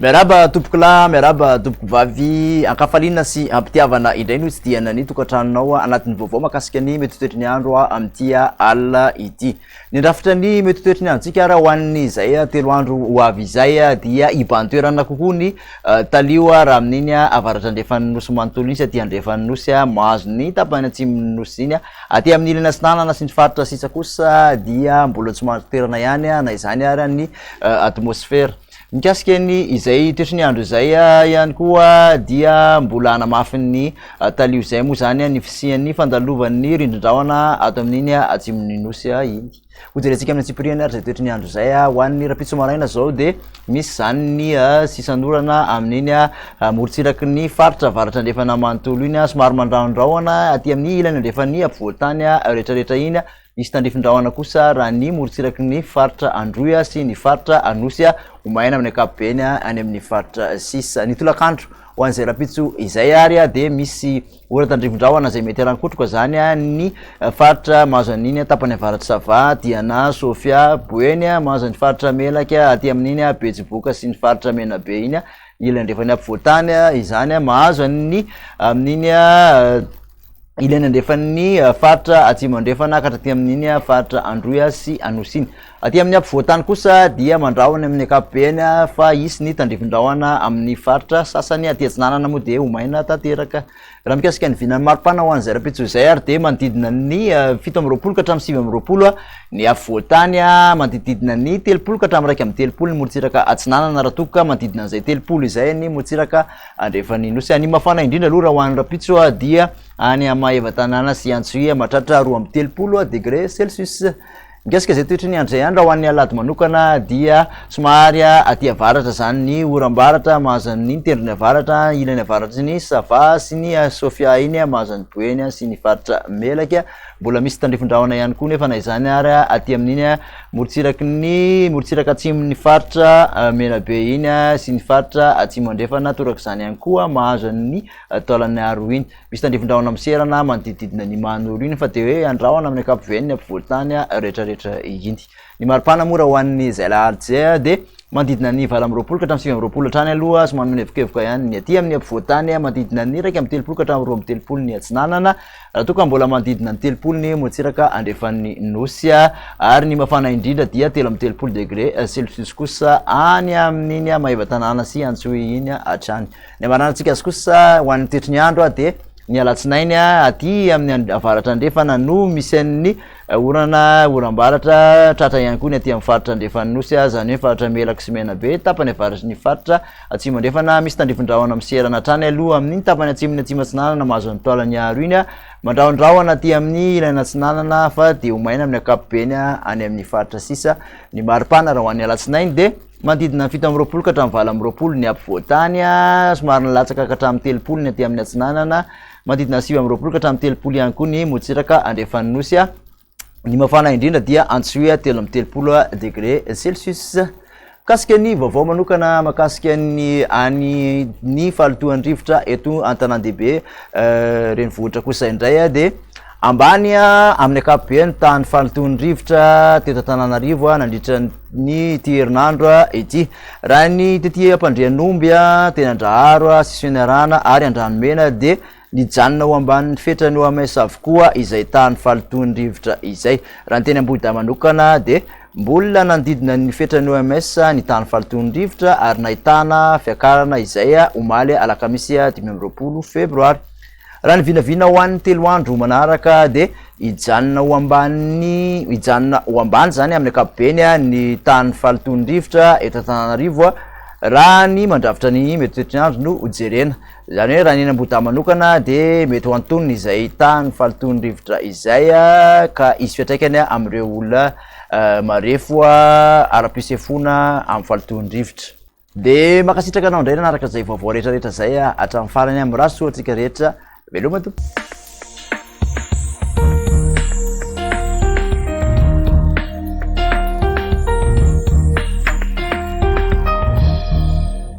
Miaraba tompoko lahy, miaraba tompoko vavy, ankafaliana sy ampitiavana indray no hitsidihana ny tokantranonao anatin'ny vaovao makasika ny mety toetry ny andro amin'ity alina ity. Ny rafitra ny mety ho toetry ny androntsika ary ho an'ny izay telo andro ho avy izay dia hibahan-toerana kokoa ny talio raha amin'iny avaratrandrefan'ny nosy manontolo iny sy aty andrefan'ny nosy mahazo ny tapany atsimon'ny nosy iny. Aty amin'ny ilany atsinanana sy ny faritra sisa kosa dia mbola tsy mahazo toerana ihany na izany ary ny atmosfera. Mikasika ny izay toetry ny andro izay ihany koa dia mbola hanamafy ny talio izay moa izany ny fisian'ny fandalovan'ny rindrin-drahona ato amin'iny atsimon'ny nosy iny. Hojerentsika amin'ny antsipiriany ary izay toetry ny andro izay ho an'ny rapitso maraina izao dia misy izany ny sisan'orana amin'iny morontsiraky ny faritra avaratra andrefana manontolo iny, somary mandrahondrahona aty amin'ny ilany andrefan'ny afovoantany rehetrarehetra iny. Misy tandrifin-drahona kosa raha ny morontsiraky ny faritra Androy sy ny faritra Anosy ho maina amin'ny ankapobeny any amin'ny faritra sisa. Ny tolakandro ho an'izay rahampitso izay ary dia misy ora tandrifin-drahona izay mety harankotroka izany ny faritra mahazo an'iny tapany avaratr'i Sava, Diana, Sofia, Boeny, mahazo an'ny faritra Melaky aty amin'iny Betsiboka sy ny faritra Menabe iny ilany andrefan'ny afovoan-tany izany mahazo an'ny amin'iny ilany andrefan'ny eh, faritra atsimo andrefana ka hatraty amin'iny eh, faritra androy eh, sy anosy iny aty amin'ny ampovoantany kosa dia mandrahona amin'ny ankapobeny fa hisy ny tandrivindrahona amin'ny faritra sasany aty atsinanana moa dia homaina tanteraka raha mikasika ny vinan'ny maripana ho an'izay rapitso izay ary dia manodidina ny fito amby roapolo ka hatramin'ny sivy amby roapolo ny afovoantany manodididina ny telopolo ka hatramin'ny raika amin'ny telopolo ny morotsiraka atsinanana raha tokoka manodidina an'izay telopolo izay ny morotsiraka Andrefan'ny Nosy any mafana indrindra aloha raha ho any Rampitso dia any Maevatanàna sy Antsohihy mahatratra roa amby telopolo degré celsius. Mikasika izay toetry ny andro izay any raha ho an'ny alahady manokana dia somary aty avaratra izany ny oram-baratra mahazo an'iny tendrony avaratra, ilany avaratry ny Sava sy ny Sofia iny mahazo an'i Boeny sy ny faritra Melaky. Mbola misy tandrifin-drahona ihany koa nefa na izany ary aty amin'iny Morontsiraky ny morontsiraka atsimon'ny faritra Menabe iny sy ny faritra Atsimo Andrefana, torak'izany ihany koa mahazo an'ny taolan'ny Aroy iny. Misy tandrifin-drahona miserana manodidididina ny Mahanoro iny fa dia hoe andrahona amin'ny ankapobeny ny ampovoan-tany rehetrarehetra iny. Ny mari-pana moa raha ho an'ny izay alahady izay dia manodidina ny valo amby roapolo ka hatramin'ny sivy amby roapolo hatrany aloha somary milevokevoka ihany ny aty amin'ny ampovoan-tany, manodidina ny iraika amby telopolo ka hatramin'ny roa amby telopolo ny atsinanana. Raha toa ka mbola manodidina ny telopolo ny motsiraka andrefan'ny Nosy ary ny mafana indrindra dia telo amby telopolo degre celsius kosa any amin'iny Maevatanàna sy Antsohihy iny hatrany. Ny hamaranantsika azy kosa ho an'ny toetry ny andro dia ny alatsinainy aty amin'ny avaratra andrefana no misy an'ny orana, oram-baratra, tratra ihany koa ny aty amin'ny faritra andrefan'ny Nosy, izany hoe ny faritra Melaky sy Menabe, tapany avaratr'iny faritra Atsimo Andrefana, Misy tandrifin-drahona miserana hatrany aloha amin' ny tapany atsimon' ny Atsimo Atsinanana mahazo ny toalany aharo iny, mandrahondrahona aty amin' ny ilany atsinanana fa dia ho maina amin' ny ankapobeny any amin' ny faritra sisa. Ny mari-pana raha ho an' ny alatsinainy dia manodidina ny fito amby roapolo ka hatramin'ny valo amby roapolo ny ampovoan-tany, somary nilatsaka ka hatramin'ny telopolo ny aty amin' ny atsinanana, manodidina ny sivy amby roapolo ka hatramin'ny telopolo ihany koa ny motsiraka andrefan' ny Nosy. Ny mafana indrindra dia antsoia telo amby telopolo degré celsius. Mikasika ny vaovao manokana makasika ny any ny fahalotoan-drivotra eto an-tanàn-dehibe euh, renivohitra kosa indray ah, dia ambany amin'ny ankapobeny tany fahalotoan'ny rivotra teto Antananarivo nandritra ny ity herinandro ity raha ny tety ampandrianomby teny andraharo sisiniarana ary andranomena dia Nijanona ho ambanin'ny fetran'ny OMS avokoa izay tahan'ny fahalotoan'ny rivotra izay. Raha ny teny Ambohidahy manokana dia mbola nanodidina ny fetran'ny OMS ny tahan'ny fahalotoan'ny rivotra ary nahitana fiakarana izay omaly alakamisy dimy amby roapolo febroary. Raha ny vinavina ho an'ny telo andro manaraka dia hijanona ho ambany hijanona ho ambany izany amin'ny ankapobeny ny tahan'ny fahalotoan'ny rivotra eto Antananarivo raha ny mandrafitra ny metimetiandro no jerena. Izany hoe raha ny eny Ambohidahy manokana dia mety ho antonony izay hitaha ny fahalotoan'ny rivotra izay ka hisy fiantraikany amin'ireo olona marefo ara-pisefoana amin'ny fahalotoan'ny rivotra. Dia mankasitraka anao indray nanaraka izay vaovao rehetrarehetra izay hatramin'ny farany. Mirary soa antsika rehetra. Veloma Tompo.